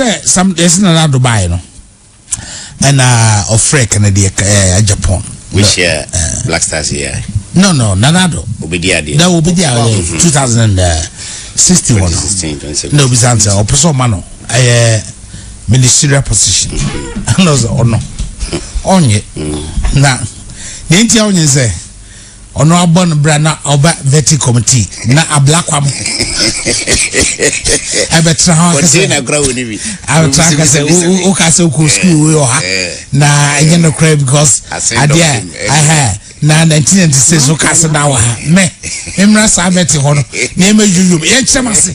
dɛ sam yɛdze Nana Addo bae no ɛna ɔfrɛ Kennedy ɛɛ Japan. mi hyɛ Black Stars yɛ. no no Nana Addo. obedi adeɛ. na obedi adeɛ two thousand and uh, sixteen wɔ no na obi san sɛ ɔpɛ sɛ ɔma no ɛyɛ ministerial position ɛna ɔsɛ ɔno ɔnyɛ na nea nti a ɔnyɛ sɛ. Ɔno abɔ no bra na ɔba vetting committee na ablakwa mo ɛbɛ tra ho akasɛ tra akasɛ o ka sɛ okɔ school wei ɔha na ɛnyɛ no kora because adeɛ ɛhɛ na nineteen ninety six o ka sɛ na wɔ ha mɛ mmra saa vetting hɔ no na ɛmɛ yoyom yɛn kyerɛ ma se.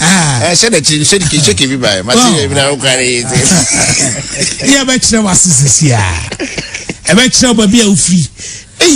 ɛhyɛ n'akyi no hyɛde kehyɛke bi baɛ mate yɛ bi na wokware yi te ne ɛbɛkyerɛ wase sisi a ɛbɛkyerɛ baabi a wofiri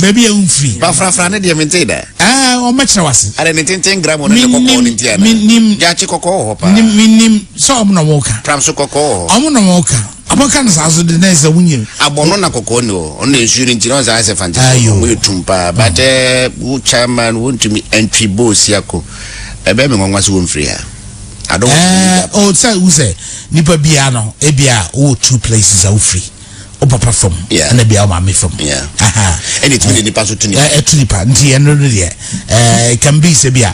baabi a wofiri bafrafra ne deɛ mentee da ɔmɛkyerɛ wase ade ne tenten gram ne kɔkɔɔ ne ntia no menim gyakye kɔkɔɔ wɔ hɔ paa menim sɛ ɔmo na wɔka pram so kɔkɔɔ wɔ hɔ ɔmo na wɔka Ɔmo ka no saa so de na ɛsɛ wo nyɛ. Abɔno na kɔkɔɔ ni hɔ ɔno na nsuo no nti na ɔsan sɛ fante so Ayo. ɔmo yɛ tum paa but ɛɛ wo chairman wontumi ɛntwi boosiako ɛbɛyɛ me nwanwa sɛ wɔmfiri ha I don't want to be that ɛɛ o sɛ wo sɛ nipa biara no ebia wowɔ two places a wofiri wo papa fam Yeah. ɛna bia wo maame fam Yeah. Aha. ɛna ɛtumi de nipa so to ne Ɛ- ɛto nipa nti ɛno no deɛ ɛɛ it can be sɛ bi a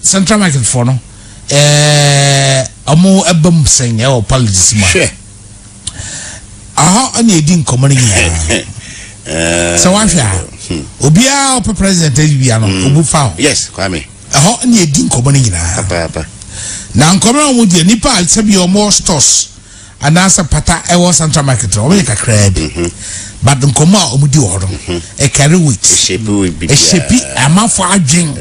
Central market foɔ no ɛɛ ɔmo ɛba mu sɛn ɛwɔ politics mu a. Hwɛ. Ahɔ ɛna edi nkɔmɔ no nyinaa. Eh, sɛ wahwɛ a hmm. obiara ɔpɛ president ɛdi bia no hmm. obu fa o. yes kwame. ɛhɔ ɛna edi nkɔmɔ no nyinaa. na nkɔmɔ na wɔn di nipa sɛbi wɔn stores. anaasɛ pata ɛwɔ central market no wɔyɛ kakraa bi mhm. but nkɔmmɔ a wɔdi wɔ hɔ no mhm. ɛkari wit ɛhyɛpi amanfo adwen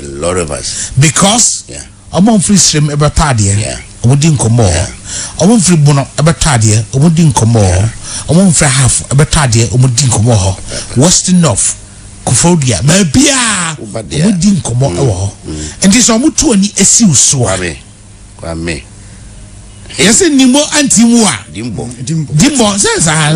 because wɔn mfiri srem ɛbɛtɔ adeɛ wɔn di nkɔmmɔ hɔ wɔn mfiri bono ɛbɛtɔ adeɛ wɔn di nkɔmmɔ hɔ wɔn mfiri half ɛbɛtɔ adeɛ wɔn di nkɔmmɔ hɔ west north kofodua baabiara wɔn di nkɔmmɔ mm. wɔ hɔ mm. nti sɛ wɔn tu ani esiw so a. Kwa me. Yɛsɛ nimbo anti mu a. Dimbo. Dimbo sɛ saa.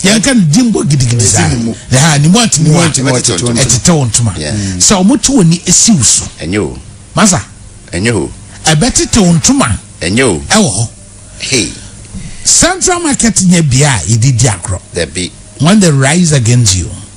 Yɛn ka no dimbo gidigidi saa. Yɛha nimbo anti mu a. Ɛtetɛ wɔn ntoma. Sɛ wɔn to wɔn ni esi wo so. Ɛnyɛ o. Masa. Ɛnyɛ o. Ɛbɛtetɛ wɔn ntoma. Ɛnyɛ o. Ɛwɔ hɔ. Hey. Central market nyɛ bea a yɛde di agorɔ. Dabi. When they rise against you.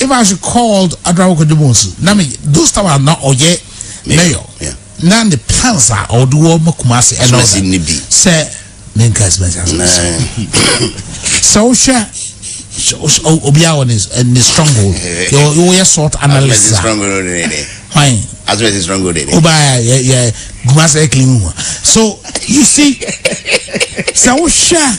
If I should call Adrawa Kodemonsu, na me those time a na ɔyɛ mayor, na ne plans a ɔde wɔ ma Kumasi ɛna ɔda sɛ ne nka expense asase. Sɛ wohwɛ obiara wɔ ne ne stronghold, wɔyɛ sort analysis a, hwan? Asomasi stronghold de. Obaa yɛ yɛ Kumasi ɛkili mu. So you see, sɛ wohwɛ.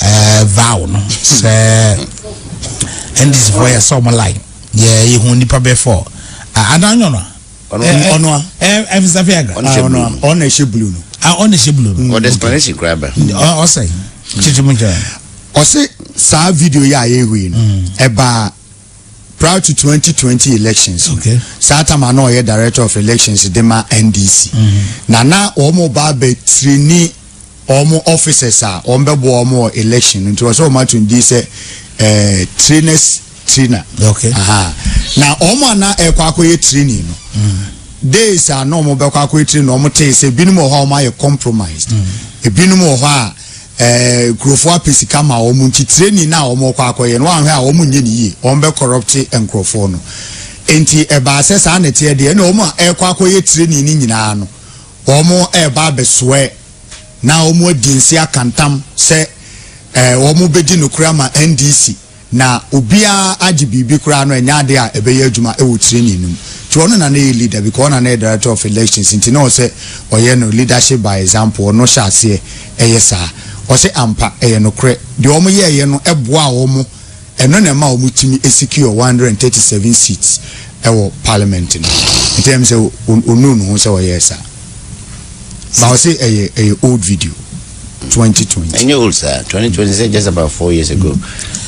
ɛɛ vow no sɛ ndc fo yɛ sɛ ɔmo lai yɛ yɛ hu nipa bɛ fɔ adan nyɔ no ɔnoa ɛfisa fi aga ɔna ɛhyɛ blue no ɔna ɛhyɛ blue no ɔde explanation kura bɛ ɔsɛ kyikyim nkyɛn ɔsɛ saa video yɛ a yɛ hui no ɛbaa. Prior to twenty twenty elections no, Okay. saa tam a na ɔyɛ director of elections de ma NDC. Na na wɔn ba abɛ tirini wɔn officers a wɔn bɛ boa wɔn wɔ election no nti wɔsɛ wɔn ato ne din sɛ ɛɛ trainers trainer. Okay. Aha. Na wɔn a na ɛkɔ akɔyɛ training no. Days a na wɔn bɛkɔ akɔyɛ training no wɔn tee sɛ ebinom wɔ hɔ a wɔn ayɛ compromised. Ebinom wɔ hɔ a nkurɔfoɔ apɛ sika ma wɔn nti training no a wɔn rekɔ akɔyɛ no wɔanhwɛ a wɔn nyɛ no yie wɔn bɛ kɔrɔpte nkurɔfoɔ no nti ɛbaa sɛ saa na ɛteɛ deɛ ɛna wɔn a ɛrekɔ akɔyɛ training no nyinaa no wɔn ɛreba abɛsoɛ na wɔn adi nse akantam sɛ wɔn bɛdi nokorɛ ama NDC Na obiara agye biribi koraa no ɛnyɛ ade a ɛbɛyɛ adwuma wɔ training no mu nti ɔno na na ɛyɛ leader because ɔno na na ɛyɛ director of elections nti na ɔsɛ ɔyɛ no leadership by example ɔno hyɛ aseɛ ɛyɛ saa ɔsɛ ampa ɛyɛ nokorɛ deɛ wɔn yɛɛyɛ no ɛboaa wɔn ɛno na ɛma wɔn tumi secure 137 seats ɛwɔ parliament no nti ɛm sɛ ɔnuu ne ho sɛ ɔyɛɛ saa ba ɔsɛ ɛyɛ ɛyɛ old video. twenty twenty. ɛnyɛ old saa twenty twenty sɛ just about four years ago.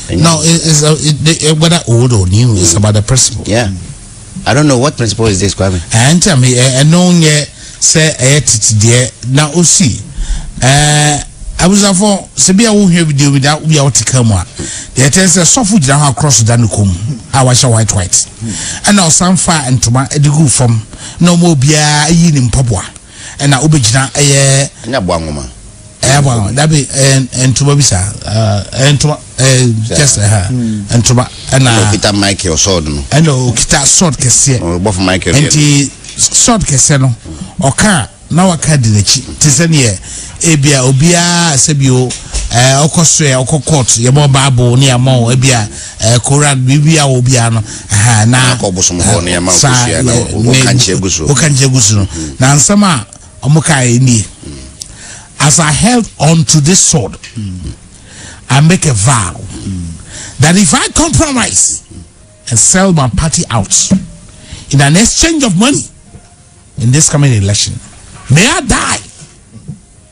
Mm. no it, it's a, it, they, eh, whether old or new mm. it's about the principle. yeah i don't know what principle is this kwame. ɛn eh, tí a mi ɛno eh, yɛ sɛ ɛyɛ titi deɛ na o si ɛɛ abusafo sebi a wohwɛ video bi da obi a wɔte kan mu a deɛ ɛtɛ sɛ sɔfo gyina hɔ akorɔ so da ne kɔn mu a wahyɛ white white ɛna ɔsan fa ntoma de gu fam na wɔn obiara ayi ne mpaboa. ɛna wobɛgyina ɛyɛ ɛnyɛ aboa nwoma ɛyɛ aboa nwoma dabi ɛyɛ ntoma bi saa ɛyɛ ntoma ɛyɛ just ɛha ntoma ɛna ɛna okita michael sɔɔd no ɛna okita sɔɔd kɛseɛ ɔbɔfo michael nti sɔɔd kɛseɛ no ɔka na waka di n'akyi te sɛ neɛ ebia obiara sɛ bio ɛɛ ɔkɔ so yɛ ɔkɔ court yɛbɔ baabo ne yɛamɔ ebia Kora biribi a wɔ biara no. Aha, na. Na kɔ bosom hɔ ne ɛma nkosua na wokankyɛ gu so. Wokankyɛ gu so no. Na nsɛm a wɔn kae nie. As I held on to this sword, I make a vow that if I compromise and sell my party out in an exchange of money in this coming election, may I die.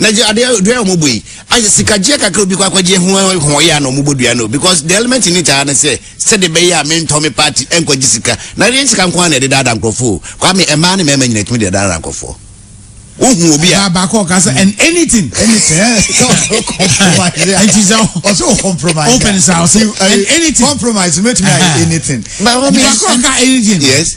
na gye adeɛ dua a wɔbɔ yi ayɛ sikagyeɛ kakra obi kɔ akɔgye ho ho yɛ a na wɔbɔ dua no because the element in it ara ne sɛ sɛde bɛyɛ a mentɔ me party nkɔgye sika na ɛdeɛ sika nko ara na ɛde daadaa nkurɔfoɔ kwame mmaa ne mmarima nyina tumi de daadaa nkurɔfoɔ wohu obi a baako ɔka sɛ and anything anything nti sɛ ɔsɛ o compromise open sa ɔsɛ and anything compromise mɛtumi ayɛ anything baako ɔka anything yes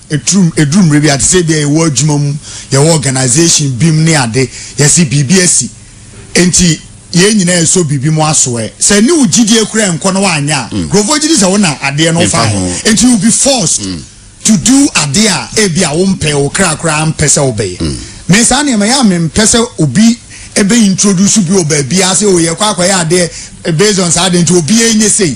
Ɛturum, ɛduru mmerɛ bi a, te sɛ ebia yɛwɔ adwuma mu, yɛwɔ organisation bi mu ne ade, yɛse biribi asi, enti yɛn nyinaa ɛsɔ biribi mu asoɛ. Sɛ ɛne wo gyidie koraa ɛnkɔ na woanyɛ a, nkurɔfoɔ gyedi sɛ wo na adeɛ no faeɛ, enti you will be forced to do adeɛ a ebia wompɛ, wo kra koraa mpɛ sɛ wobɛyɛ. Me saa nneɛma yi, ɛyɛ a mempɛ sɛ obi bɛ introduce bi wɔ baabiara sɛ oh yɛkɔ akɔyɛ adeɛ based on saa adeɛ nti obiara nyɛ sei.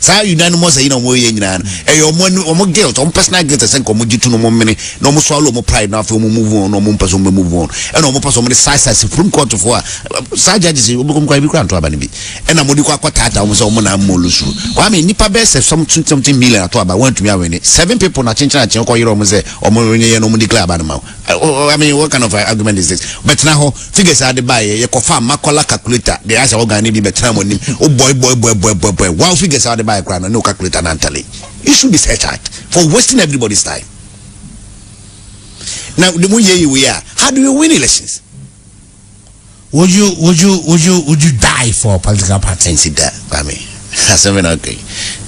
saa yuda no mu ɔsɛ yi na wɔn yɛ nyinaa no ɛyɛ wɔn ani wɔn guilt wɔn personal guilt ɛsɛ nka wɔn gye to no wɔn mene na wɔn swallow wɔn pride na afei wɔn move on na wɔn mpɛ so wɔn bɛ move on ɛna wɔn pɛ so wɔn de saa saa supreme court fo a saa judges yi wɔn bɛ kɔm kwan bi kura nto aba no bi ɛna wɔn de kɔ akɔ taata wɔn sɛ wɔn na mmɔ lusu kwame nipa bɛɛ sɛ something something million ato aba wɔn atumi awɛne seven people na kyenkyen akyen kɔ yere wɔn sɛ wɔn nyɛ yɛ na wɔn declare aba no ma wɔn I mean what kind of uh, argument is this? Bɛtena hɔ figures ade baayɛ yɛkɔfa makɔla calculator de ayɛ sɛ ɔgan ne bi bɛtena mo anim wobɔe bɔe bɔe bɔe bɔe bɔe wow figures ade baayɛ koraa no ne wo calculator no antale you should be set out for wasting everybody's time na de mo yɛ yi wei a how do you win elections would you would you would you would you die for political party. nti da kwame asɛm na ɔka yi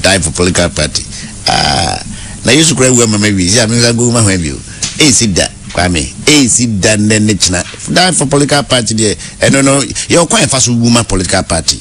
die for political party ah na yesu kura wu ama ma wie si a mensa gu ma hwan bio ɛnsi da kwame ɛnsi da nnɛ ne kyena die for political party deɛ ɛno no yɛ ɔkwan ɛfa so wu ma political party.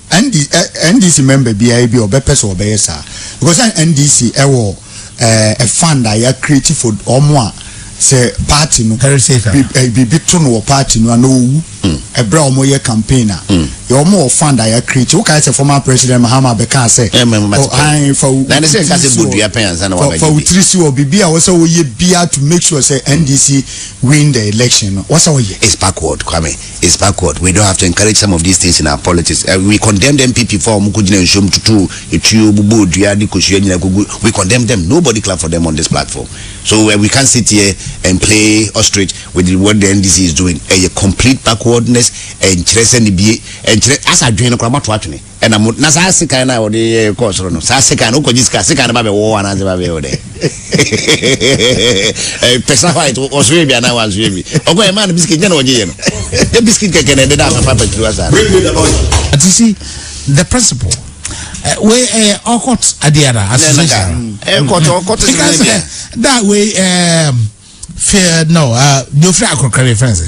ND, eh, NDC member biara bi a ɔbɛpɛ sɛ ɔbɛyɛ saa because eh, NDC ɛwɔ eh, a fund a yɛ create for ɔmo a sɛ party no biribi eh, to no wɔ party no ana owu ɛbrɛ hmm. a ɔmo yɛ campaign a hmm. yɛ ɔmo wɔ fund a yɛ create woka sɛ former president Mahama bɛka sɛ ɔhan fa wotiri si wɔ biribi a wɔsɛ wɔyɛ bia to make sure sɛ NDC win the election no wɔsɛ wɔyɛ. It's backward Kwame. It's backward, we don't have to encourage some of these things in our politics, we condemned NPP fo a wɔn kɔ gyina nsuom tutuu etuo, bobɔɔ dua de kosua nyinaa kogu, we condemned them, nobody clapped for them on this platform, so we can't sit here and play ostrich with what the NDC is doing, ɛyɛ complete backwardness, ɛnkyerɛ sɛ nibie, ɛnkyerɛ, asa adwene no koraa moato atwene. Ɛna mo na saa sekan no a wɔde yɛ kɔɔ soro no saa sekan no wokɔgye sika sekan no ba bɛwɔ hɔ anaasɛ ba bɛyɛ wo dɛ pɛsa white ɔsoɛ bi anaa wansoɛ bi ɔkɔ ɛmaa no biskit nyɛ na ɔgye yɛ no yɛ biskit kɛkɛ na ɛdeda afafa patiri wa saa no. But you see the principle eh, wei ɛyɛ eh, ɔkɔt adeɛ da association ɛkɔt eh, ɔkɔt sɛ ɛdeɛ da wei ɛɛ fɛ no ɛɛ deofiri akorokari fɛnsɛ.